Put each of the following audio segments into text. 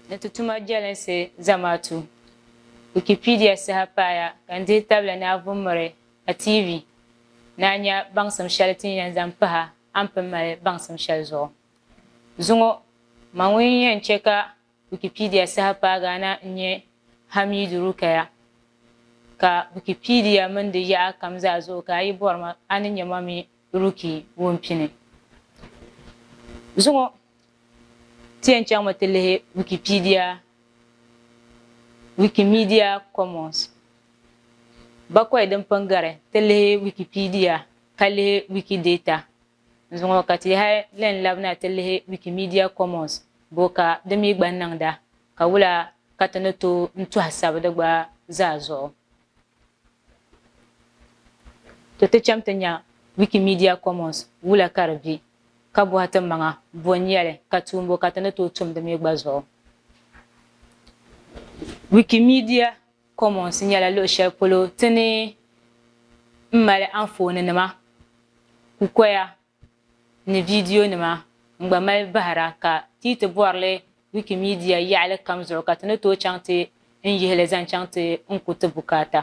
ni ti tuma jɛlinsi zamaatu. Wikipedia saha paaya ka n dihi tabila ni a vummiri a TV ni a nya baŋsim shɛli ti ni yɛn zaŋ pahi a ni pun mali baŋsim shɛli zuɣu. Zuŋɔ, ma ŋun yɛn chɛ ka Wikipedia saha paagaa na n-nyɛ Hamidu Rukaya, ka Wikipedia mini di yaɣa kam zaa zuɣu ka a yi bɔri ma, a ni nya ma mi Ruki Wumpini. Zuŋɔ ti yɛn chaŋmi ti lihi Wikipedia Wikimedia Commons. Bakɔi din pun gari ti lihi Wikipedia ka lihi Wikidata N zuŋɔ ka ti hali lan labina ti lihi Wikimedia Commons bo ka di mi gba niŋda ka wula ka ti ni tooi n tɔhi sabi di gba zaa zuɣu? To ti cham ti nya Wikimedia Commons wula ka di be ka bɔhi ti maŋa bo n-nyɛli ka tuun bo ka ti ni tooi tum di mi gba zuɣu? Wikimedia. Commons nyɛla luɣi shɛli polo ti ni mali anfooni nima, kukoya ni vidiyo nima n gba mali bahira ka ti yi ti bɔri li Wikimedia yaɣili kam zuɣu ka ti ni tooi chaŋ ti n yihi li zaŋ chaŋ ti n ku ti bukaata.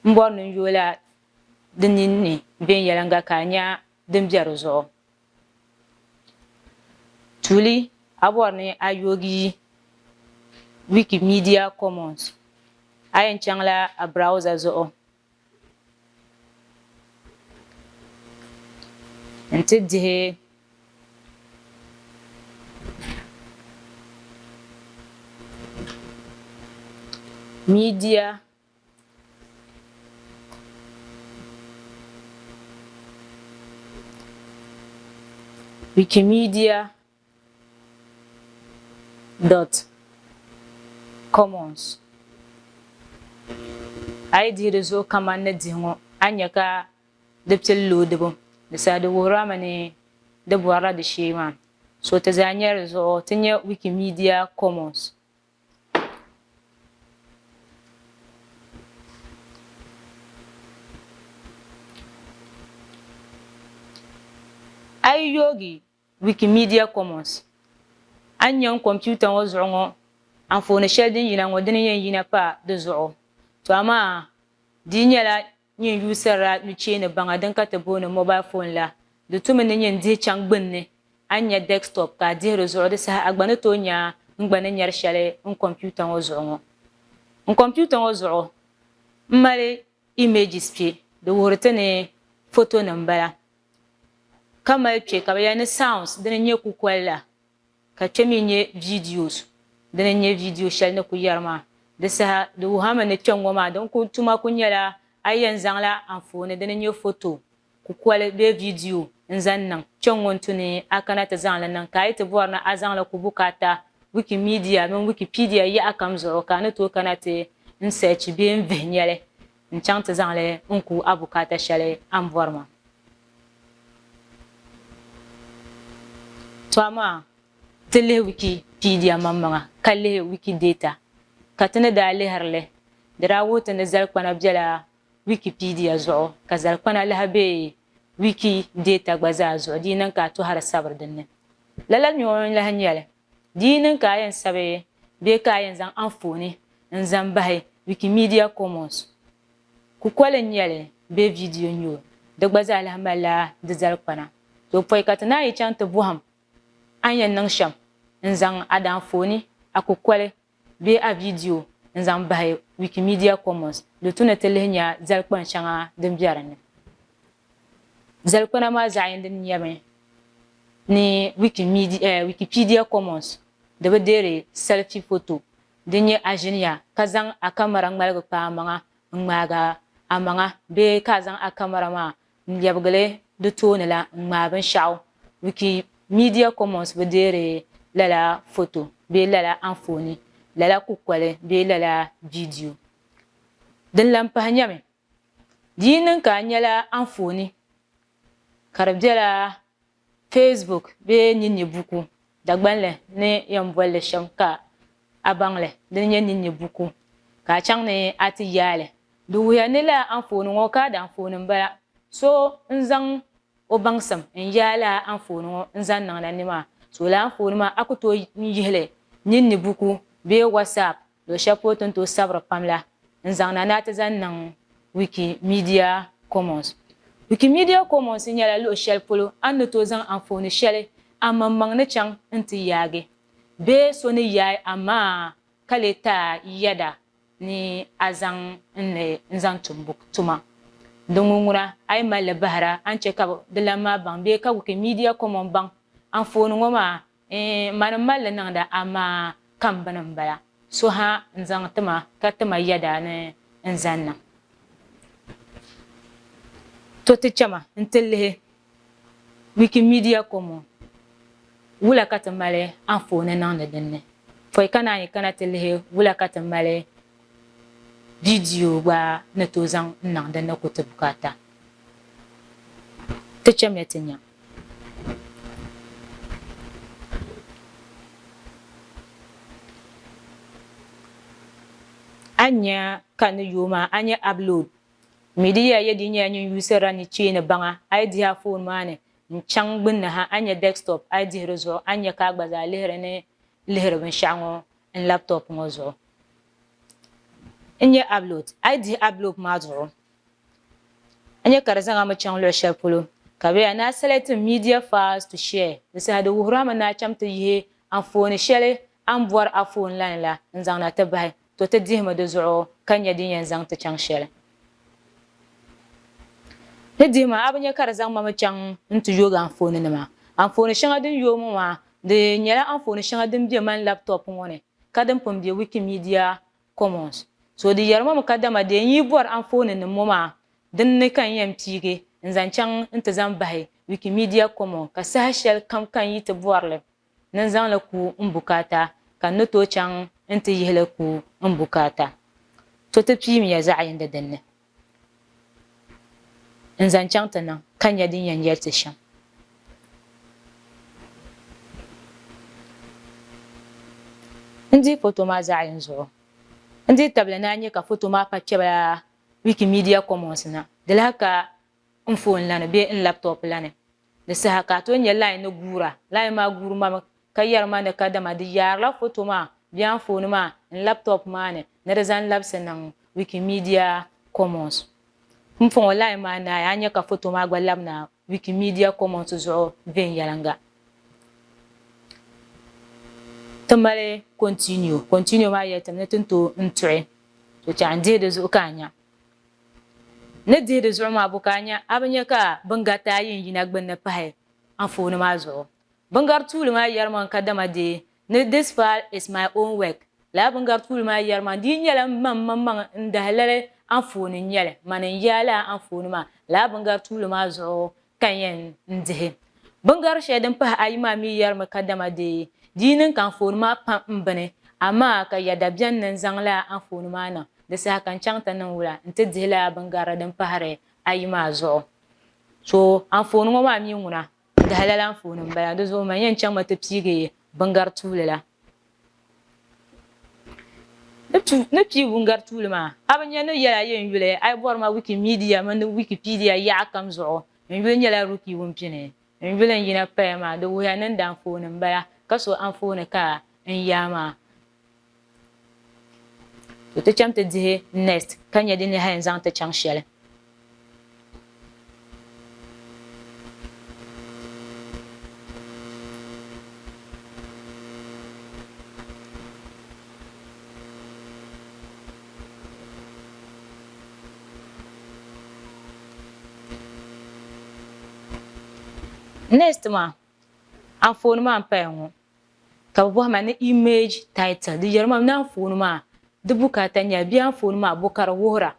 M bɔri ni n yooi la di ninni viɛnyɛliŋga ka a nya din be di zuɣu. Tuuli a bɔri ni a yoogi Wikimedia Commons a yɛn chaŋla a browser zuɣu n ti dihi media. Wikimedia dot commons a yi dihi di zuɣu kaman ni dihi ŋɔ a ni nya ka di pili loodibu di saha di wuhiri a mi ni di bɔrila di shee maa so ti zaa nyari di zuɣu ti nya Wikimedia commons. A yi yoogi Wikimedia Commons, a ni nya n kɔmpiuta ŋɔ zuɣu ŋɔ anfooni shɛli din yina ŋɔ dini n-yɛn yina pa di zuɣu, to amaa di nyɛla Nyin n yuusirila nucheeni baŋa din ka ti booni mobile phone la. Di tumi ni nyin dihi chaŋ gbinni, a ni nya desktop ka a dihi di zuɣu, di saha a gba ni tooi nya n gba ni nyari sheli n kompiuta ŋɔ zuɣu ŋɔ. N kompiuta ŋɔ zuɣu m mali images kpe, di wuhiri ti ni fotonim m-bala, ka mali kpe ka bi yɛli ni sounds dini n-nyɛ kukoli la. ka kpe mi n-nyɛ videos dini n-nyɛ video shɛli ni ku yɛri maa di saha di wuhi a mi ni kpɛŋŋɔ maa din ku tuma ku nyɛla a yi yɛn zaŋla anfooni dini n-nyɛ foto kukoli bee video n-zaŋ niŋ kpɛŋŋɔ n-tu ni a kana ti zaŋ li niŋ ka a yi ti bɔri ni a zaŋ li ku bukaata Wikimedia mini Wikipedia yaɣa kam zuɣu ka a ni tooi kana ti n-search bee n-vihi nyɛli n chaŋ ti zaŋ li n ku a bukaata shɛli a ni bɔri maa. To amaa ti lihi Wikipedia maŋmaŋa ka lihi Wikidata. Ka ti ni daa lihiri li, di daa wuhi ti ni zalikpana bela Wikipedia zuɣu ka zalikpana lahi be Wikidata gba zaa zuɣu di yi niŋ ka a tɔhiri sabiri dinni. Lala nyo n-lahi nyɛli. Di yi niŋ ka a yɛn sabi bee ka a yɛn zaŋ anfooni n-zaŋ bahi Wikimedia Commons, kukoli n-nyɛ li bee vidiyo n-nyɛ o, di gba zaa lahi malila di zalikpana. Toopoyi ka ti naan yi chaŋ ti bɔhim a ni yɛn niŋ shɛm n-zaŋ a daanfooni, a kukoli, bee a vidiyo n-zaŋ bahi Wikimedia Commons di tu ni ti lihi nya zalikpani shɛŋa din be di ni. Zalikpana maa zaɣ yindi nyɛmi ni Wikipedia Commons di bi deeri selfie photo din nyɛ a ʒini ya ka zaŋ a kamara ŋmaligi kpa amaŋa n-ŋmaagi amaŋa bee ka a zaŋ a kamara maa n-lɛbigili di tooni la n-ŋmaai binshɛɣu, Wikimedia Commons bi deeri lala foto bee lala anfooni, lala kukoli bee lala vidiyo. Din lan pahi nyami, di yi niŋ ka a nyala anfooni ka di bela Facebook bee ninni buku Dagbanli ni yɛn boli li shɛm ka a baŋ li di ni nyɛ ninni buku ka a chaŋ ni a ti yaai li. Di wuhiya ni lala anfooni ŋɔ kaadi anfooni m-bala. So n-zaŋ o baŋsim n-yaai lala anfooni ŋɔ n-zaŋ niŋ na ni maa, toola anfooni maa a ku tooi n-yihi li ninni buku bee WhatsApp Luɣi shɛli polo ti ni tooi sabiri pam la n-zaŋ na ni a ti zaŋ niŋ Wikimedia Commons. Wikimedia Commons nyɛla luɣi shɛli polo a ni tooi zaŋ anfooni shɛli a maŋmaŋ ni chaŋ n-ti yaagi bee so ni yaai a maŋa ka lee taai yɛda ni a zaŋ n li n-zaŋ tumbu tuma. Di ŋunŋuna a yi mali li bahira a ni chɛ ka di lan maa baŋ bee ka Wikimedia Commons baŋ anfooni ŋɔ maa, Ɛɛn, mani m-mali li niŋda amaa kambini m-bala. So ha n-zaŋ ti ma ka ti ma yɛda ni n zani na. To ti chɛma nti lihi Wikimedia Common wula ka ti mali anfooni niŋdi din ni. Pɔi ka naanyi kana ti lihi wula ka ti mali Di diu gba ni tooi zaŋ n-niŋ din ni ku ti bukaata. Ti chamya ti nya. A ni nya ka ni yooi maa, a nya upload. Mi di yɛa yɛ di nyɛla nyin yuusirila ni cheeni baŋa. A yi dihi a foon maa ni n-chaŋ gbunni ha, a ni nya desktop. A yi dihi di zuɣu, a ni nya ka a gba zaa lihiri ni lihiri binshɛɣu ŋɔ n laptop ŋɔ zuɣu n nya upload a yi dihi upload maa zuɣu a nya ka di zaŋ a mi chaŋ luɣi shɛli polo ka bɛ yaa ni a selecting media files to share di saha di wuhiri a mi ni a cham ti yihi anfooni shɛli a ni bɔri a phone line la n zaŋ na ti bahi to ti dihimi di zuɣu ka nya din yɛn zaŋ ti chaŋ shɛli. Ni dihi ma, a bi nya ka di zaŋ ma mi chaŋ nti yoogi anfooninima? Anfooni shɛŋa din yooi ŋɔ maa, di nyɛla anfooni shɛŋa din be mani laptop ŋɔ ni ka din pun be Wikimedia Commons. So di yɛri ma mi kadama dee n-yi bɔri anfooninim ŋɔ maa, din ni ka n yɛn piigi n-zaŋ chaŋ nti zaŋ bahi Wikimedia Commons ka saha shɛlikam ka n yi ti bɔri li. ni n zaŋ li ku n bukaata, ka n ni tooi chaŋ nti yihi li ku n bukaata. To ti piimiya zaɣ yindi din ni n zaŋ chaŋ ti niŋ, ka nya din yɛn yɛli ti shɛm. N dihi foto maa zaɣ yini zuɣu. N dihi tabili ni a nya ka foto maa pa kpɛbila Wikimedia Commons na, di lahi ka n foon la ni bee n laptop la ni. Di saha ka a tooi nya line ni guura, line maa guuri ma mi ka yɛri ma ni kadama di yaarila foto maa bee anfooni maa n laptop maa ni ni di zaŋ labisi niŋ Wikimedia Commons. Pumpɔŋɔ line maa naai a nya ka foto maa gba labi na Wikimedia Commons zuɣu viɛnyɛliŋga. Ti mali continue, continue maa yɛli ti mi ni ti ni tooi n tuɣi. Tɔ chɛ a ni dihi di zuɣu ka a nya. Ni dihi di zuɣu maa bu ka a nya? A bi nya ka bingarita ayi n-yina gbunni pahi anfooni maa zuɣu? Bingar tuuli maa yɛrima n ka dama dee ni This file is my own work. Lala bingar tuuli maa yɛrima di yi nyɛla m maŋ maŋmaŋ n-dahi lali anfooni n-nyɛli, mani n-yaai lala anfooni maa. Lala bingar tuuli maa zuɣu ka yɛn dihi. Biŋgari shɛli din pahi ayi maa mi yɛrimi kadama dee di yi niŋ ka anfooni maa pa m-bini, amaa ka ya da beni ni n-zaŋ lala anfooni maa niŋ di saha ka n-chaŋ ti niŋ wula nti dihi lala biŋgari din pahiri ayi maa zuɣu. So anfooni ŋɔ maa mi ŋuna n-dahi lala anfooni m-bala, di zuɣu man yɛn chaŋmi ti piigi biŋgari tuuli la. Ni pii wungari tuuli maa, a bi nya ni yɛla yɛn yuli a yi bɔri ma Wikimedia mini Wikipedia yaɣa kam zuɣu. N yuli nyɛla Ruki Wumpini. N yuli n yina paya maa, di wuhiya ni n di anfooni m-bala, ka so anfooni ka n yaa maa. To ti chaŋ ti dihi next ka nya di ni hali n zaŋ ti chaŋ shɛli. next maa anfooni maa n paya ŋɔ ka bi bɔhima ni image title di yɛrima ni anfooni maa di bukaata nyɛla bee anfooni maa bo ka di wuhira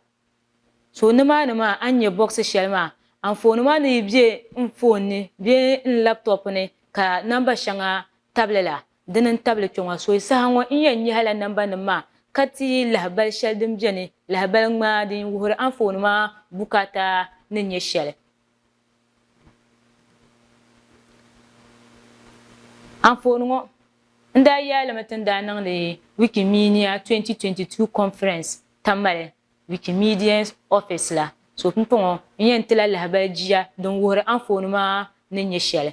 So nimaani maa a ni nya bɔɣisi shɛli maa, anfooni maa ni yi be n foon ni bee n laptop ni ka namba shɛŋa tabili la, dini n-tabili kpe ŋɔ. Soyi saha ŋɔ n yɛn nyɛhi la nambanim maa ka ti yi lahibal shɛli din beni, lahibal ŋmaa din wuhiri anfooni maa bukaata ni nyɛ shɛli. Anfooni ŋɔ n daa yaalimi ti ni daa niŋdi Wikimedia 2022 Conference Tamale Wikimedia Office la, so pumpɔŋɔ n yɛn tila lahibali jia din wuhiri anfooni maa ni nyɛ shɛli.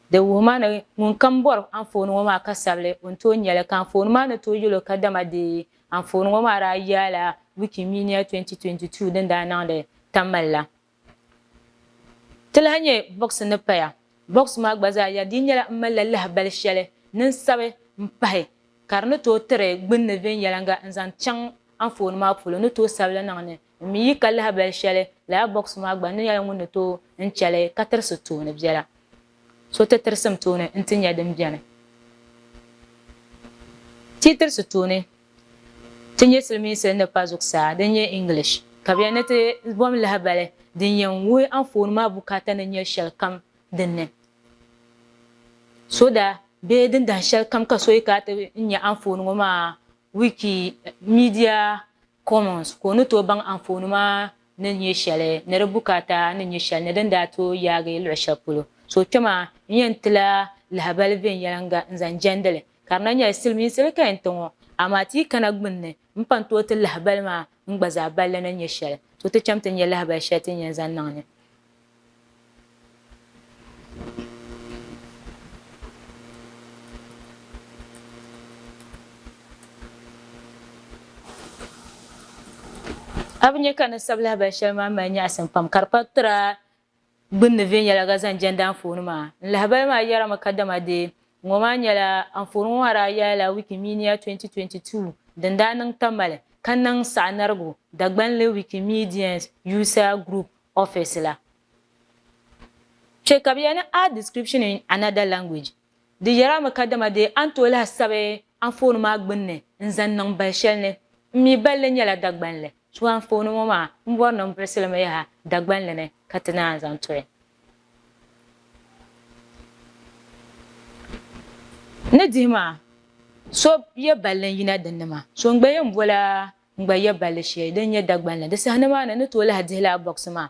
Di wuhima ni ŋunkam bɔri anfooni ŋɔ maa ka sabili o ni tooi nya li, ka anfooni maa ni tooi yɛl o kadama deei anfooni ŋɔ maa daa yaala Wikimedia 2022 din daa niŋdi Tamale la. Ti lahi nya bɔɣisi ni paya. Bɔɣisi maa gba zaa yaa di nyɛla m malila lahibali shɛli ni n sabi m-pahi ka di ni tooi tiri gbunni viɛnyɛliŋga n-zaŋ chaŋ anfooni maa polo ni tooi sabili niŋ ni N mi yi ka lahabali shɛli lala bɔks maa gba ni nyɛla ŋun ni tooi n chɛ li ka tirisi tooni biɛla. So ti tirisi m tooni nti nya din beni. Ti yi tirisi tooni ti nyɛ silimiinsi ni pa zuɣusaa din nyɛ English ka bɛ yɛli ni ti bom lahabali din yɛn wuhi anfooni maa bukaata ni nyɛ shɛlikam din ni soda bee dindahin shɛlikam ka so yi ka ti nya anfooni ŋɔ maa Wikimedia Commons ka o ni tooi baŋ anfooni maa ni nyɛ shɛli ni di bukaata ni nyɛ shɛli ni din daa tooi yaagi luɣi shɛli polo. So kpɛm a ni yɛn ti la lahabali viɛnyɛliŋga n-zaŋ jɛndi li, ka di na nyɛla silimiinsi di ka yɛn ti ŋɔ, amaa ti yi kana gbunni m-pan tooi ti lahabali maa n-gba zaa balli ni nyɛ shɛli, so ti cham ti nya lahabali shɛli ti ni yɛn zaŋ niŋ ni. A bi nya ka ni sabi lahabali shɛli maa mali nyaɣisim pam ka di pa tira gbunni viɛnyɛliga zaŋ jɛndi anfooni maa. N lahabali maa yɛrimi kadama dee ŋɔ maa nyɛla anfooni ŋɔ maa daa yaai la Wikimedia 2022 din daa niŋ Tamale ka niŋ saɣinarigu Dagbanli Wikimedians User Group office la. Kpe ka bɛ yɛli ni Add description in another language di yɛra mi kadama dee a ni tooi lahi sabi anfooni maa gbunni n-zaŋ niŋ bal shɛli ni. M mi bal li nyɛla Dagbanli so anfooni ŋɔ maa m bɔri ni m birisi li mi yaha Dagbanli ni ka ti naan zaŋ tɔya ni dihi maa. So yɛ bal li n-yina dinni maa. So n-gba yɛn boli a. N gba ya balli shɛli din nyɛ Dagban la. Di saha ni maa na, n ni tooi lahi dihi lala bɔɣisi maa.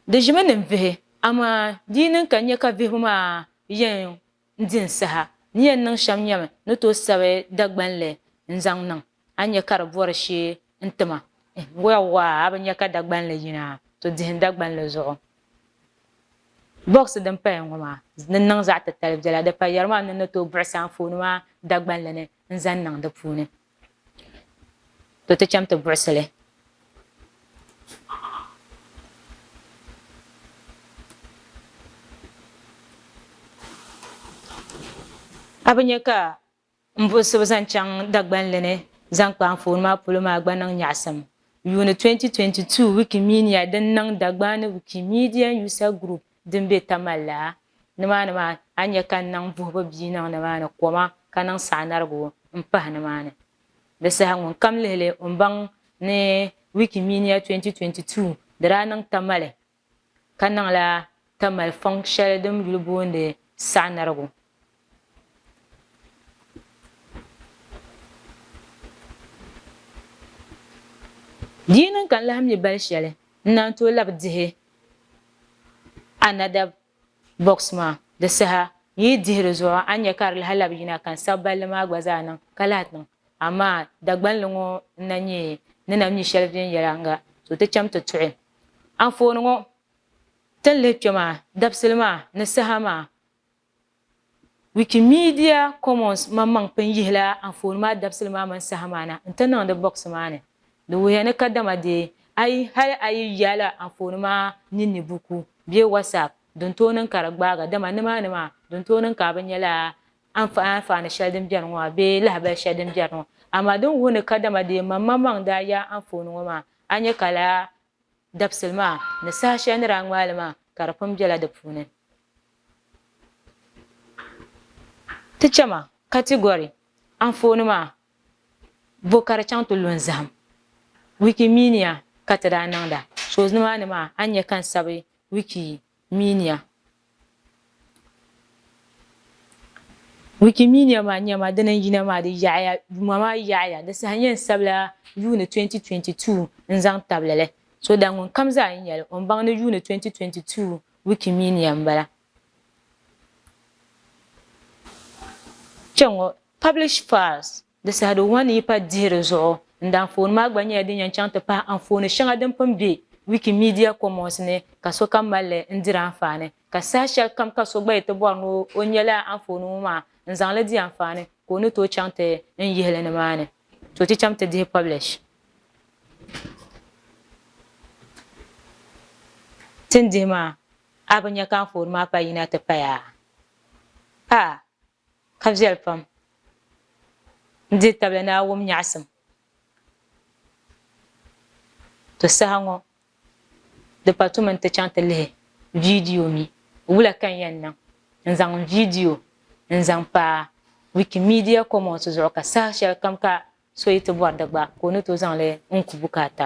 Di ʒimi ni n vihi, amaa di yi niŋ ka n nya ka vihibu maa yɛn di n saha, n ni yɛn niŋ shɛm nyami ni tooi sabi Dagban li n-zaŋ niŋ. A nya ka di bɔri shee n-ti ma. Yawwa! A bi nya ka Dagban li yina? To dihi n Dagban li zuɣu. Bɔɣisi din paya ŋɔ maa, di niŋ zaɣ titali biɛla. Di payari maa ni n ni tooi buɣisi anfooni maa Dagban li ni n-zaŋ niŋ di puuni. To ti cham ti buɣisi li. A bi nya ka m buɣisibu zaŋ chaŋ Dagbanli ni zaŋ kpa anfooni maa polo maa gba niŋ nyaɣisim. Yuuni 2022 Wikimedia din niŋ Dagbani Wikimedia User Group din be Tamale la, nimaani maa a ni nya ka n niŋ buhibu bia niŋ nimaani koma ka niŋ saɣinarigu m-pahi nimaani. Di saha ŋunkam lihi li o ni baŋ ni Wikimedia 2022 di daa niŋ Tamale ka niŋla Tamale fɔŋ shɛli din yuli booni saɣinarigu. Di yi niŋ ka n lahi mi bali shɛli n naan tooi labi dihi another box maa di saha n yi dihi di zuɣu a ni nya ka di lahi labi yina ka n sabi balli maa gba zaa niŋ ka lahi ti niŋ amaa Dagbanli ŋɔ n na nyɛ ni na mi shɛli viɛnyɛliŋga so ti cham ti tuhi anfooni ŋɔ ti ni lihi kpɛ maa dabisili maa ni saha maa Wikimedia Commons maŋmaŋ pun yihila anfooni maa dabisili maa mini saha maa na n-ti niŋdi bɔɣisi maa ni. Di wuhiya ni kadama dee a yi hali a yi yaala anfooni maa ninni buku bee WhatsApp din tooi niŋ ka di gbaaga, dama nimaani maa din tooi niŋ ka a bi nyɛla anfaani shɛli din beni ŋɔ maa bee lahibali shɛli din beni ŋɔ. Amaa din wuhi ni kadama dee maŋmaŋmaŋ daa yaai anfooni ŋɔ maa, a nya ka lala dabisili maa ni saha shɛli ni daa ŋmaai li maa ka di pun bela di puuni. Ti chɛ ma, Category, Anfooni maa, Bo ka di chaŋ ti lu n-zahim Wikimedia ka ti daa niŋda? So nimaani maa a ni nya ka n sabi Wikimedia. Wikimedia maa nya ma dini n-yina maa di yaɣiya yuma maa yaɣiya di saha n-nyɛ n sabila yuuni 2022 n-zaŋ tabili li. So daa ŋunkam zaa n-nya li o ni baŋ ni yuuni 2022 Wikimedia m-bala. Kpɛŋɔ, Publish Files, di sahidi wan yi pa dihi di zuɣu n-di anfooni maa gba nyɛla din yɛn chaŋ ti pahi anfooni shɛŋa din pun be Wikimedia Commons ni ka sokam mali li n-diri anfaani, ka saha shɛli kam ka so gba yi ti bɔri ni o nya lala anfooni ŋɔ maa n-zaŋ li di anfaani ka o ni tooi chaŋ ti n yihi li nimaani. Tooi ti chaŋ ti dihi Publish. Ti ni dihi maa, a bi nya ka anfooni maa pa yina ti paya? A, ka viɛli pam! N dihi tabili ni a wum nyaɣisim. To saha ŋɔ, di pa tu mi nti chaŋ ti lihi viidiyo mi wula ka n yɛn niŋ n-zaŋ n viidiyo n-zaŋ pa Wikimedia Commons zuɣu ka saha shɛlikam ka So yi ti bɔri di gba, ka o ni tooi zaŋ li n-ku bukaata.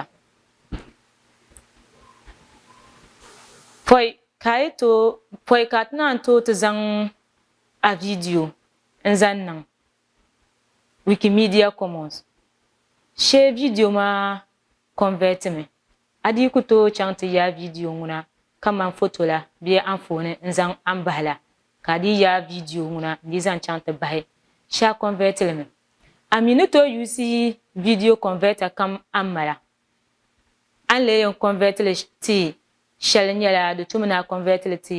Pɔi ka a yi tooi, pɔi ka a ti naan tooi ti zaŋ a viidiyo n-zaŋ niŋ Wikimedia Commons, shee viidiyo maa kɔnvɛtimi A dii ku tooi chaŋ ti yaai viidiyo ŋuna kamani foto la bee anfooni n-zaŋ a ni bahi la, ka a dii yaai viidiyo ŋuna n-dii zaŋ chaŋ ti bahi shee a kɔnvɛti li mi. A mi ni tooi yuusi yi viidiyo kɔnvɛta kam a ni mala. A ni lee yɛn kɔnvɛti li ti shɛli nyɛla di tumi ni a kɔnvɛti li ti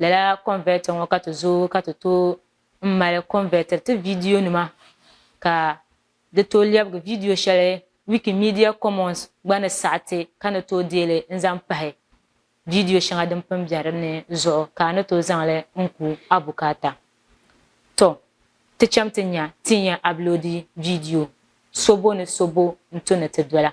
Lala converter ŋɔ ka ti zooi ka ti tooi n mali convertiri ti video nima ka di tooi lɛbigi video shɛli Wikimedia Commons gba ni saɣi ti ka ni tooi deeli n zaŋ pahi video shɛŋa din pun bɛ din ni zuɣu ka a ni tooi zaŋ li n ku a bukaata. Tɔ! Ti cham ti nya ti ni yɛn uploadi video so bo ni so bo n-to ni ti dola.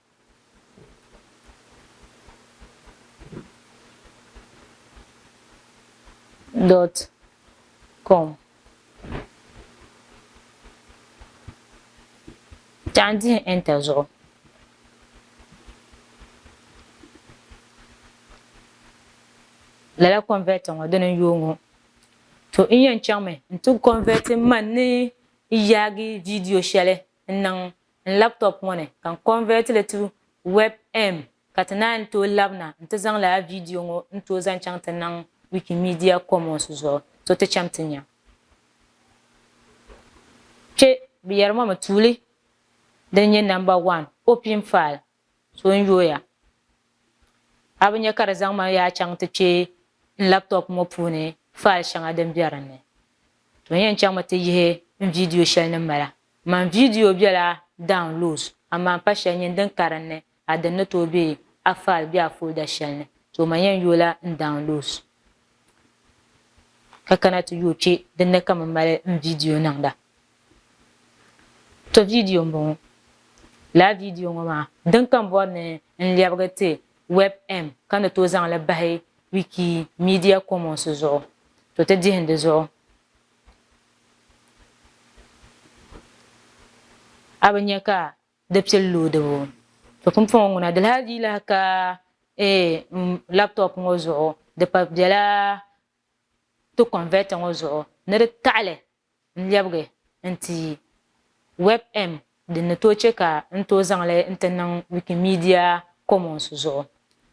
dot com Taɣi dihi enter zuɣu lala converter ŋɔ dini n-yooi ŋɔ to n-yɛn chaŋmi n-ti converti man ni yaagi video shɛli n niŋ n laptop ŋɔ ni ka n convert li to webm ka ti naan tooi labina n ti zaŋ lala video ŋɔ n tooi zaŋ chaŋ ti niŋ Wikimedia Commons zuɣu so ti chem ti nya kpe bɛ yeri ma mi tuuli din nye number one opium file So n-yooya, a bi nya ka di zaŋ ma yaa chaŋ ti kpe n laptop ŋɔ puuni file shɛŋa din be din ni? To n-yɛn chaŋmi ti yihi n vidiyo shɛli ni mala. Man vidiyo bela downloads amaa m pa shɛli nyin din ka din ni a din ni tooi be a file bee a folder shɛli ni. To man yɛn yoola n downloads ka kana ti yooi kpe din ni ka m mali n vidiyo niŋda. To vidiyo m-bɔŋɔ. Lala vidiyo ŋɔ maa, din kam bɔri ni n lɛbigi ti WebM ka ni tooi zaŋ li bahi Wikimedia Commons zuɣu. To ti dihim di zuɣu. A bi nya ka di pili loodibu. To pumpɔŋɔ ŋuna di lahi dii lahi ka m laptop ŋɔ zuɣu. Di pa bela ti converter ŋɔ zuɣu ni di taɣi li. n lɛbigi n ti yi WebM din ni tooi chɛ ka n tooi zaŋ li nti niŋ Wikimedia Commons zuɣu.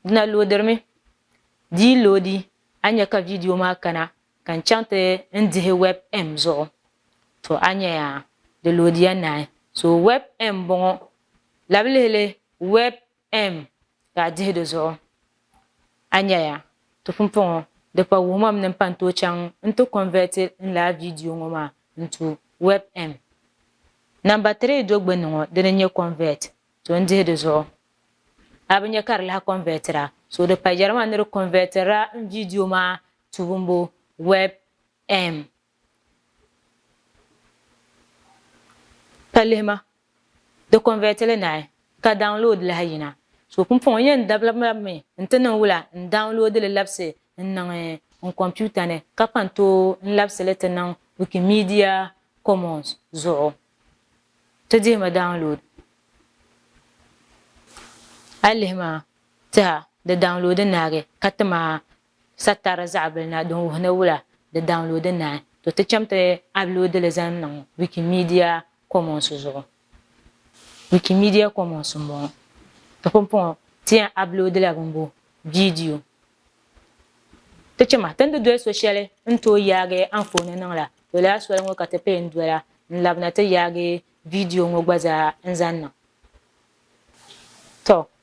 Di na loodirimi. Di yi loodi, a ni nya ka vidiyo maa kana ka n chaŋ ti n dihi WebM zuɣu. To a nya yaa, di loodiya naai. So WebM m-bɔŋɔ. Labilihili, Web. M, Daa dihi di zuɣu. A nya ya, ti pumpɔŋɔ di pa wuhimam ni m-pa n-tooi chaŋ n-ti kɔnvɛti n laa vidiyo ŋɔ maa n-tu web M, Namba 3 do gbinni ŋɔ dini n-nyɛ kɔnvɛt, so n-dihi di zuɣu. A bi nya ka di lahi kɔnvɛtira, so di pa yɛrima ni di kɔnvɛtirila n vidiyo maa tuumbu web M. Ka lihi ma, di convert li naai ka download lahi yina. So pumpɔŋɔ n yɛn dabila lab mi n ti niŋ wula n download li labisi n niŋ n computer ni ka pa n tooi n labisi li ti niŋ Wikimedia Commons zuɣu. Ti dihi ma download. A lihi ma tiha di download naagi ka ti ma Satari zaɣibili na din wuhi ni wula di daŋloodi naai, to ti cham ti abloodi li zaŋ niŋ Wikimedia Commons zuɣu. Wikimedia Commons m-bɔŋɔ. Ti pumpɔŋɔ ti yɛn abloodila bimbu, viidiyo. Ti chɛ ma ti ni di doli so shɛli n tooi yaagi anfooni niŋ la, to lala soli ŋɔ ka ti pee n-dola n-labina ti yaagi viidiyo ŋɔ gba zaa n-zaŋ niŋ. Tɔ!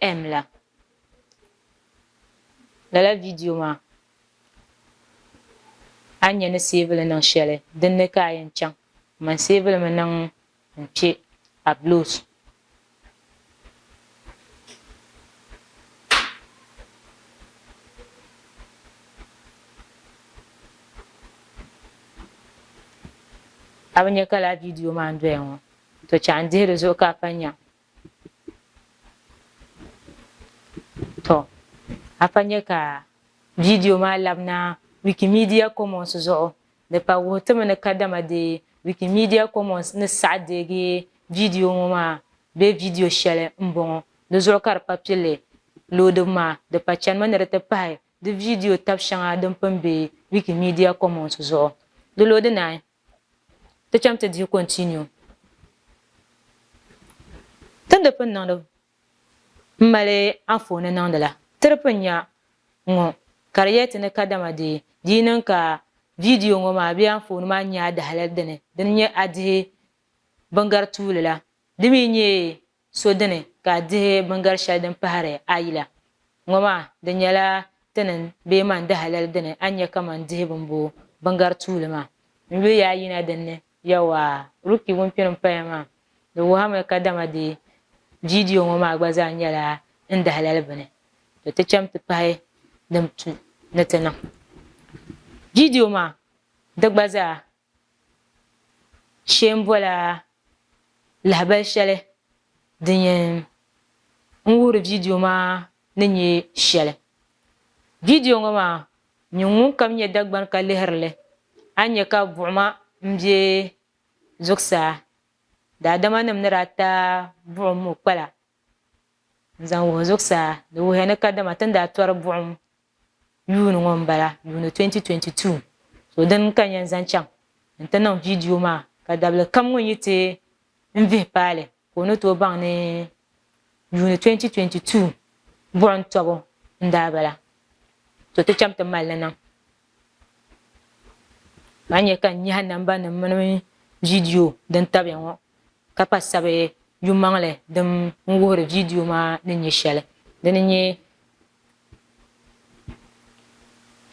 M la. Lala vidiyo maa a ni nya ni seevi li niŋ shɛli din ni ka a yɛn chaŋ man seevi li mi niŋ n-kpe Abloos. A bi nya ka lala vidiyo maa n-doya ŋɔ? To chɛ a ni dihi di zuɣu ka a pa nya. Tɔ! A pa nya ka viidiyo maa labina Wikimedia Commons zuɣu, di pa wuhi ti mi ni kadama deei Wikimedia Commons ni saɣi deegi viidiyo ŋɔ maa bee viidiyo shɛli m-bɔŋɔ. Di zuɣu ka di pa pilli loodibu maa, di pa chanimi ni di ti pahi di viidiyo tab shɛŋa din pini be Wikimedia Commons zuɣu. Di loodi naai Ti cham ti dihi continue. Ti ni di pun niŋdi m mali anfooni niŋdi la, ti di pun nya ŋɔ ka di yɛli ti ni kadama dee di yi niŋ ka viidiyo ŋɔ maa bee anfooni maa nya a dahalali dini, di ni nyɛ a dihi bingari tuuli la, di mi nyɛ So dini ka a dihi bingar shɛli din pahiri a yila ŋɔ maa? Di nyɛla ti ni bee man di halal dini a nya kaman dihi bini bo bingar tuuli maa? N yuli ya a yina din ni. Yawɛ, Ruki ŋun kpini m-paya maa, di wuhirimi kadama di viidiyo ŋɔ maa gba zaa nyɛla n dahalali bini. Tɔ ti cham ti pahi din tu ni ti niŋ viidiyo maa di gba zaa. Shee n bola lahabali shɛli din yɛn n wuhiri viidiyo maa ni nyɛ shɛli. Viidiyo ŋɔ maa nyini ŋunkam nyɛ Dagbani ka lihiri li a ni nya ka buɣima m be zuɣusaa daadamanim ni daa taai buɣim ŋɔ kpala n zaŋ wuhi zuɣusaa, di wuhiya ni kadama ti ni daa tɔri buɣim yuuni ŋɔ m-bala, yuuni 2022, so dini ka n yɛn zaŋ chaŋ nti niŋ viidiyo maa ka dabilikam ŋun yi ti n vihi paali ka o ni tooi baŋ ni yuuni 2022 buɣim tɔbu n-daa bala, to ti cham ti mali li niŋ ka a nya ka n nyahi nambanima mini viidiyo din tabiya ŋɔ. Ka pa sabi yumaŋli din n wuhiri viidiyo maa ni nyɛ shɛli din n nyɛ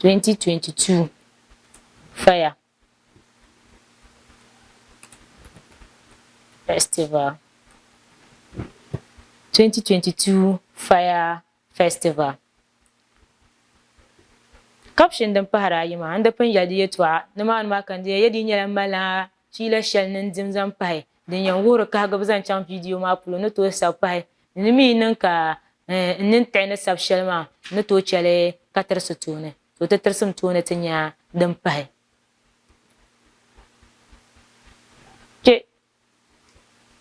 2022 Faya Festival 2022 Faya. Festival. Caption din pahari ayi maa, n di pun yɛli di yɛtɔɣa nimaani maa ka n di yɛli di yi nyɛla n malila fiila shɛli ni n dim zaŋ pahi din yɛn wuhiri kahigibu zaŋ chaŋ viidiyo maa polo n ni tooi sabi pahi ni di mi yi niŋ ka n nini tiɣi ni sabi shɛli maa n ni tooi chɛ li ka tirisi tooni ka o ti tirisi m tooni ti nya din pahi kpe.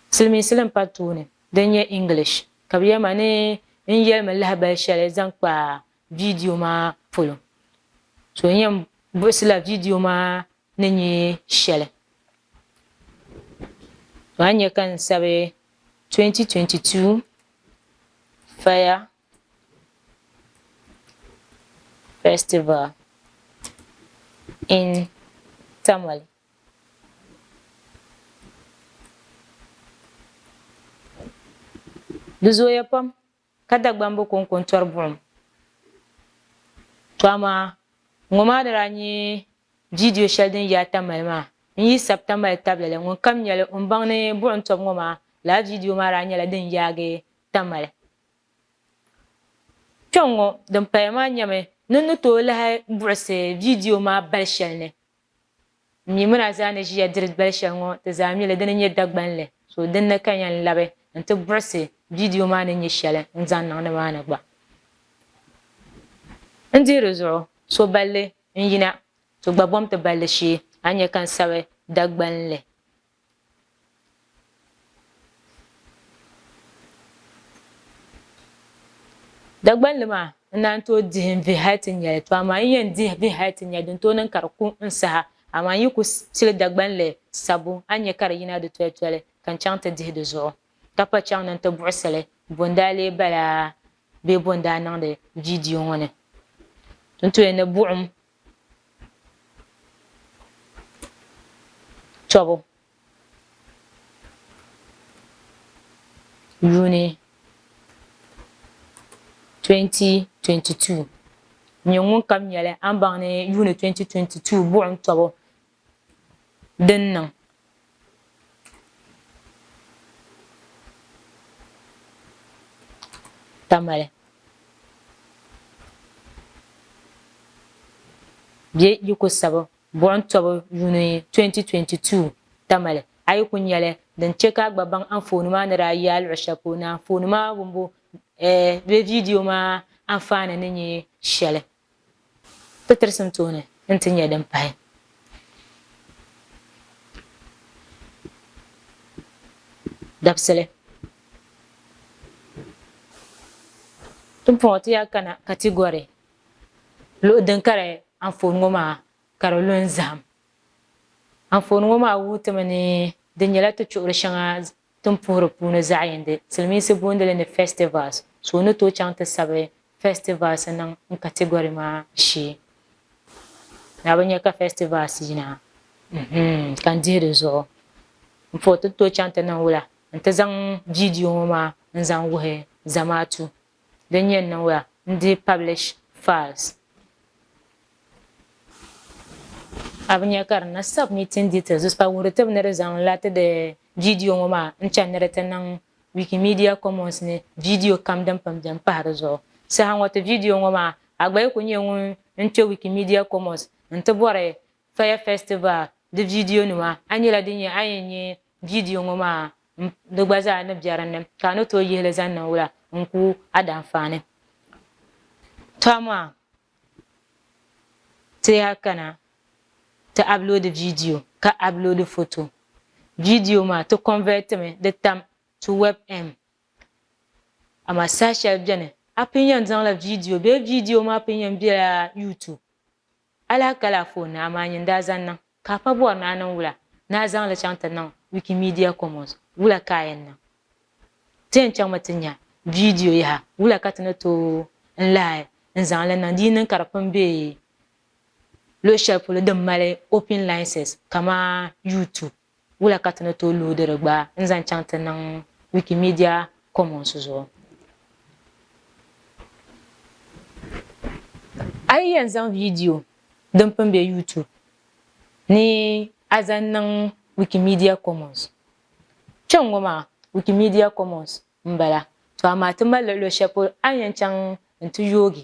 Silimiinsi din pa tooni din nyɛ English ka bɛ yɛli ma ni n yɛlimi lahibali shɛli zaŋ kpa viidiyo maa polo. So n yɛn buɣisila viidiyo maa ni nyɛ shɛli. To a nya ka n sabi 2022 Fire Festival in Tamale. Di zooya pam ka Dagbamb kɔŋko n-tɔri buɣim. To amaa ŋɔ maa ni daa nyɛ viidiyo shɛli din yaai Tamale maa n-yi sabi Tamale tabili li, ŋun kam nya li o ni baŋ ni buɣim tɔbu ŋɔ maa lala viidiyo maa daa nyɛla din yaagi Tamale. Kpɛŋŋɔ din paya maa nyɛmi ni ni tooi lahi buɣisi viidiyo maa bali shɛli ni. Mi muna zaa ni ʒiya diri gbali shɛli ŋɔ ti zaa mi li di ni nyɛ Dagbanli so din ni ka yɛn labi n ti buɣisi vidio maa ni nyɛ shɛli n zaŋ niŋ ni maa ni gba. N dihi di zuɣu so balli n yina ti gba bom ti balli shee a ni nyɛ ka n sabi Dagbanli Dagbanli maa n naan tooi dihi n vihi hali ti nya li, to amaa n yɛn dihi vihi hali ti nya din tooi niŋ ka di ku n saha. Amaa n yi ku pili Dagbanli sabbu, a ni nya ka di yina di tolitoli ka n chaŋ ti dihi di zuɣu, ka pa chaŋ ni n ti buɣisi li bo n daa lee bala bee bo n daa niŋdi viidiyo ŋɔ ni. N tooi ni buɣim tɔbu yuuni 2022 n-nyɛ ŋunkam nyɛli a ni baŋ ni yuuni 2022 buɣim tɔbu din niŋ. Tamale. Bɛ yi ku sabi buɣim tɔbu yuuni 2022 Tamale, a yi ku nya li din chɛ ka a gba baŋ anfooni maa ni daa yi a luɣ shɛli polo ni anfooni maa wumbu bee viidiyo maa anfaani ni nyɛ shɛli. Ti tirisim tooni nti nyɛ din pahi. Dabisili. Timpɔŋɔ ti yaa kana ka ti gɔri luɣi din kari anfooni ŋɔ maa ka di lu n zahim. Anfooni ŋɔ maa wuhi ti mi ni di nyɛla ti chuɣiri shɛŋa Tin puhiri puuni zaɣiyindi silimiinsi booni li ni festivals, so ni tooi chaŋ ti sabi festivals niŋ n category maa shee ni a bi nya ka festivals yina mm-hmm ka n dihi di zuɣu n puhi ti tooi chaŋ ti niŋ wula n ti zaŋ video ŋɔ maa n zaŋ wuhi zamaatu. din yɛn niŋya n-dihi publish files. A bi nya ka di na submitting details zuɣusaa wuhiri tibh ni di zaŋ la ti di vidio ŋɔ maa n-chani ni di ti niŋ Wikimedia Commons ni vidio kam din pun beni pahi di zuɣu. Saha ŋɔ ti vidio ŋɔ maa, a gba yi ku nyɛ ŋun n-kpe Wikimedia Commons n-ti bɔri Fire Festival di viidiyo nima a nyɛla din nyɛ a yɛn nyɛ viidiyo ŋɔ maa m di gba zaa ni bɛ dinni ka a ni tooi yihi li zaŋ niŋ wula n ku a danfaani to amaa ti yaa kana ti upload viidiyo ka upload foto viidiyo maa ti convert mi di tam to webm amaa saha shɛli bɛni a pun yɛn zaŋla viidiyo bee viidiyo maa pun yɛn bɛla YouTube Alaa ka laa foon naa maa nyɛ n-daa zaŋ niŋ, ka a pa bɔri ni a niŋ wula, ni a zaŋ li chaŋ ti niŋ Wikimedia Commons, wula ka a yɛn niŋ? Ti yɛn chaŋmi ti nya viidiyo yaha wula ka ti ni tooi n lahi n zaŋ li niŋ di yi niŋ ka di pun be luɣ shɛli polo din mali open license kaman YouTube. Wula ka ti ni tooi luhi diri gbaai n-zaŋ chaŋ ti niŋ Wikimedia Commons zuɣu? A yi yɛn zaŋ viidiyo din pun be YouTube ni a zaŋ niŋ Wikimedia Commons. Kpe ŋ-ŋɔ maa Wikimedia Commons m-bala, to amaa ti mali luɣ shɛli polo a ni yɛn chaŋ nti yoogi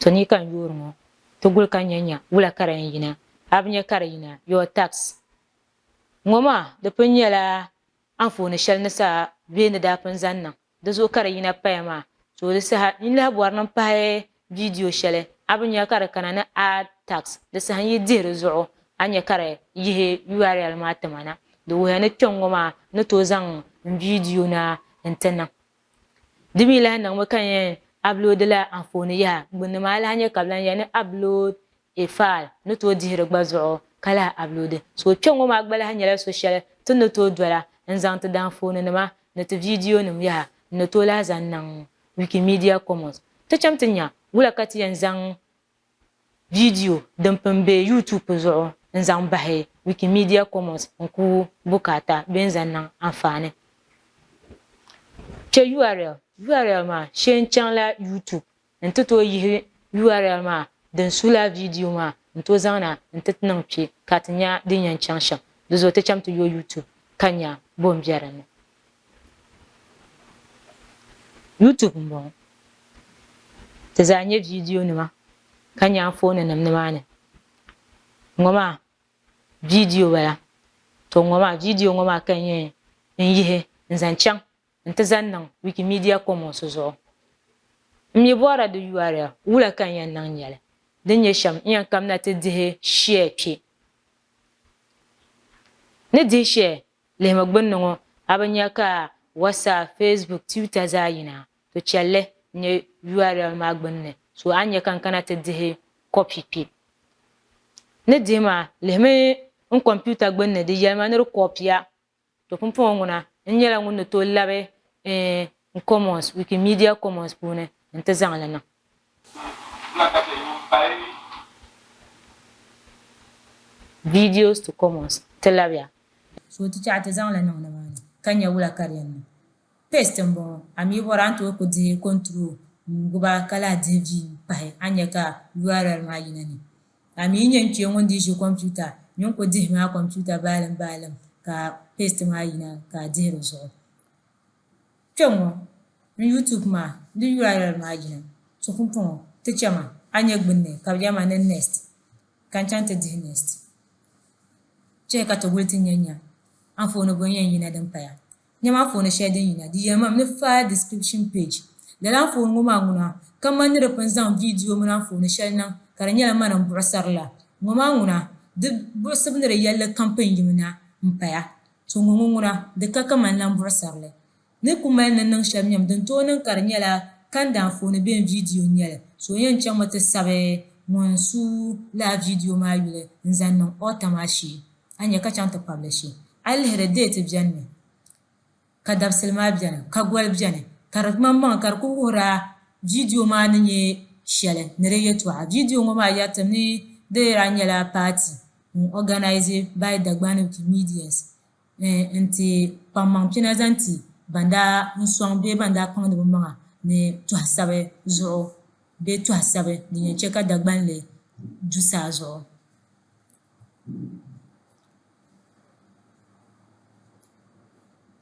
To ni ka n yoori ŋɔ ti guli ka nya nya wula ka di yɛn yina a bi nya ka di yina your tax ŋɔ maa di pun nyɛla anfooni shɛli ni sa bee ni daa pun zaŋ niŋ Di zuɣu ka di yina paya maa. Tooli saha, yi lahi bɔri ni n pahi viidiyo shɛli, a bi nya ka di kana ni Add Tags. Di saha n yi dihi di zuɣu, a nya ka di yihi URL maa ti ma na. Di wuhiya ni kpɛŋŋɔ maa ni tooi zaŋ n viidiyo na n-ti niŋ. Di mi lahi niŋmi ka n yɛn uploadila anfooni yaha gbunni maa, a lahi nya ka bɛ lan ya ni Upload E file ni tooi dihi di gba zuɣu ka lahi upload. So kpe ŋɔ maa gba lahi nyɛla so shɛli ti ni tooi dola n zaŋ ti danfooni nima ni ti viidiyo nim yaha n ni tooi lahi zaŋ niŋ Wikimedia Commons. Ti chaŋ ti nya wula ka ti yɛn zaŋ viidiyo din pini be YouTube zuɣu n zaŋ bahi Wikimedia Commons n ku bukaata bee n zaŋ niŋ anfaani. Che url. Url maa shee n chaŋ la YouTube N ti tooi yihi url maa din suhi lala viidiyo maa n-tooi zaŋ na nti ti niŋ kpe ka ti nya din yɛn chaŋ shɛm di zuɣu ti cham ti yo YouTube ka nya bɔ m-be din ni. YouTube m-bɔŋɔ. Ti zaa nya viidiyonima ka nya anfooninim nimaani. Ŋɔ maa viidiyo bala. To ŋɔ maa viidiyo ŋɔ maa ka n yɛn yihi n-zaŋ chaŋ n-ti zaŋ niŋ Wikimedia Commons zuɣu. M mi bɔhira di url wula ka n yɛn niŋ nya li, din nyɛ shɛm n yɛn kamina ti dihi share kpe. Ni dihi share lihimi gbunni ŋɔ, a bi nya ka WhatsApp, Facebook, Twitter zaa yina? To chɛ li n nyɛ url maa gbunni, so a ni nya ka n kana ti dihi copy kpe. Ni dihi maa, lihimi n kɔmpiuta gbunni di yɛlima ni di kɔɔpiya To pumpɔŋɔ ŋuna n nyɛla ŋun ni tooi labi n commons, Wikimedia Commons puuni n ti zaŋ li niŋ. Videos to commons ti labiya. So ti chaɣi ti zaŋ li niŋ nimaani ka nya wula ka di yɛn niŋ? Paste n bɔŋɔ. A mi bɔri a ni tooi ku dihi control n guba ka lahi dihi V n pahi a ni nya ka url maa yina ni. Ka a mi yi nyɛ n-kpee ŋun dii ʒi kompiuta mini ko dihi maa kompiuta baalim baalim ka paste maa yina ka a dihi di zuɣu. Kpe ŋɔ n YouTube maa n di url maa yina ti pumpɔŋɔ ti che ma a nyɛ gbunni ka bi yɛli ma niŋ next ka n chaŋ ti dihi next. Chɛ ka ti wuli ti nyɛ nya anfooni bɔŋɔ yɛn yina din paya. Nyama anfooni shɛli din yina di yɛlimam ni File Description Page. Lala anfooni ŋɔ maa ŋuna ka mani ni di pun zaŋ viidiyo mini anfooni shɛli niŋ ka di nyɛla mani m-buɣisiri la ŋɔ maa ŋuna di buɣisibu ni di yɛlli kam pun yim na m-paya. To ŋɔ ŋɔ ŋuna di ka kamani lan buɣisiri li ni ku mali ni niŋ shɛli nyam din tooi niŋ ka di nyɛla kanda anfooni bee viidiyo n-nyɛli. So yɛn chaŋmi ti sabi ŋun su lala viidiyo maa yuli n-zaŋ niŋ author maa shee. a nya ka chaŋ ti kpabi li shee. A yi lihiri deeti beni mi ka dabisili maa beni ka goli beni ka di ŋmani maŋa ka di kuli wuhiri a viidiyo maa ni nyɛ shɛli ni di yɛltɔɣa. Viidiyo ŋɔ maa yɛritim ni di di daa nyɛla paati n organise by Dagbani Wikimedians n-ti kpaŋ maŋ pina zaŋ ti ban daa n sɔŋ bee ban daa kpaŋdi bɛ maŋa ni tɔhisabi zuɣu bee tɔhisabi din yɛn che ka Dagbanli du saa zuɣu.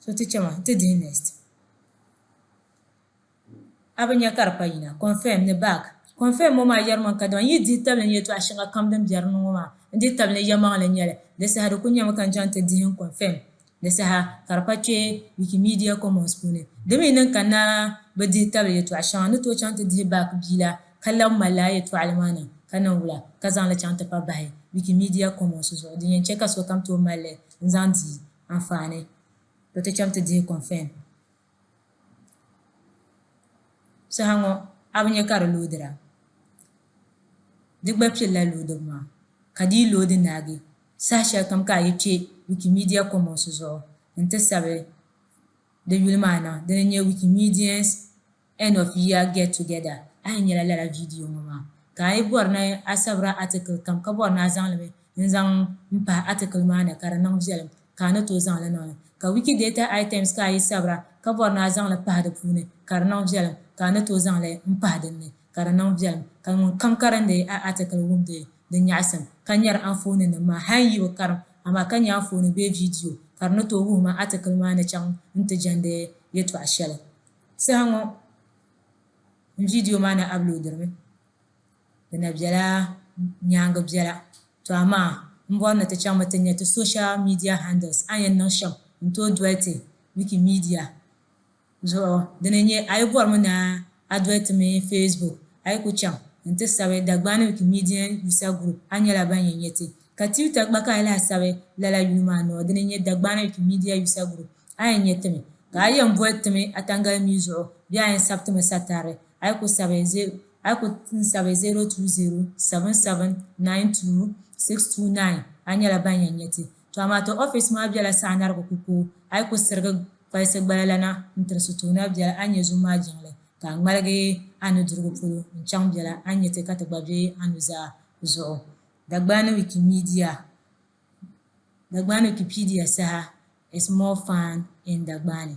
So ti chɛ ma, ti dihi next. A bi nya ka di pa yina, confirm ni back. Confirm ŋɔ maa yɛrimi n kadama n yi dihi tabili ni yɛltɔɣa shɛŋa kam din biɛri ni ŋɔ maa n dihi tabili ni yɛmaŋli n-nyɛ li. Di saha di ku nyɛmi ka n chaŋ ti dihi n confirm. Di saha ka di pa kpe Wikimedia Commons puuni. Di mi niŋ ka naa bi dihi tabili yɛtɔɣ shɛŋa ni tooi chaŋ ti dihi baaki bia la, ka lab mali lala yɛtɔɣili maa niŋ ka niŋ wula ka zaŋ li chaŋ ti pa bahi Wikimedia Commons zuɣu din yɛn chɛ ka sokam tooi mali li n-zaŋ di anfaani. Bɛ ti chaŋ ti dihi kɔnfɛn. Saha ŋɔ a bi nya ka di loodira? Di gba kpirila loodibu maa. Ka di yi loodi naagi saha shɛli kam ka a yi kpe Wikimedia Commons zuɣu nti sabi di yuli maa niŋ dini n-nyɛ Wikimedians End of Year Get Together, a yi nyɛla lala viidiyo ŋɔ maa. Ka a yi bɔri ni a sabira atikili kam ka bɔri ni a zaŋ li mi. n zaŋ m pahi atikili maa ni ka di niŋ viɛlim ka a ni tooi zaŋ li niŋ li. Ka Wikidata items ka a yi sabira ka bɔri ni a zaŋ li pahi di puuni ka di niŋ viɛlim ka a ni tooi zaŋ li n pahi din ni ka di niŋ viɛlim. Ka ŋun kam karindi a atikili wumdi di nyaɣisim ka nyari anfooninim maa hal yi bi karim amaa ka nya anfooni bee viidiyo ka di ni tooi wuhi ma atikili maa ni chaŋ nti jɛndi yɛtɔɣ shɛli. Saha ŋɔ n viidiyo maa na aploadiri mi. di na bela nyaaŋa biɛla. To amaa m bɔri ni ti chaŋmi ti nya ti social media handles a ni yɛn niŋ shɛm n tooi doli ti Wikimedia zuɣu dini n-nyɛ a yi bɔrimi ni a doli ti mi Facebook a yi ku chaŋ n ti sabi Dagbani Wikimedian User Group a nyɛla ban yɛn nya ti ka Twitter gba ka a yi lahi sabi lala yuli maa noo dini n-nyɛ Dagbani Wikimedia User Group a yɛn nya ti mi ka a yɛn boli ti mi a tangalimii zuɣu bee a yɛn sabi ti mi satarili a yi ku sabi a yi ku n sabi 020 7792 629 a nyɛla ban yɛn nyɛ ti. To amaa ti office maa bela Saanarigu Kukoo a yi ku sirigi kpalisi gbala lana n tiri Sutuuna bela a ni nyɛ zum maa jiŋli ka a ŋmaligi a nudirigu polo n chaŋ bela a ni nyɛ ti ka ti gba be a nuzaa zuɣu. Dagbani Wikimedia Dagbani Wikipedia, Saha is more fun in Dagbani.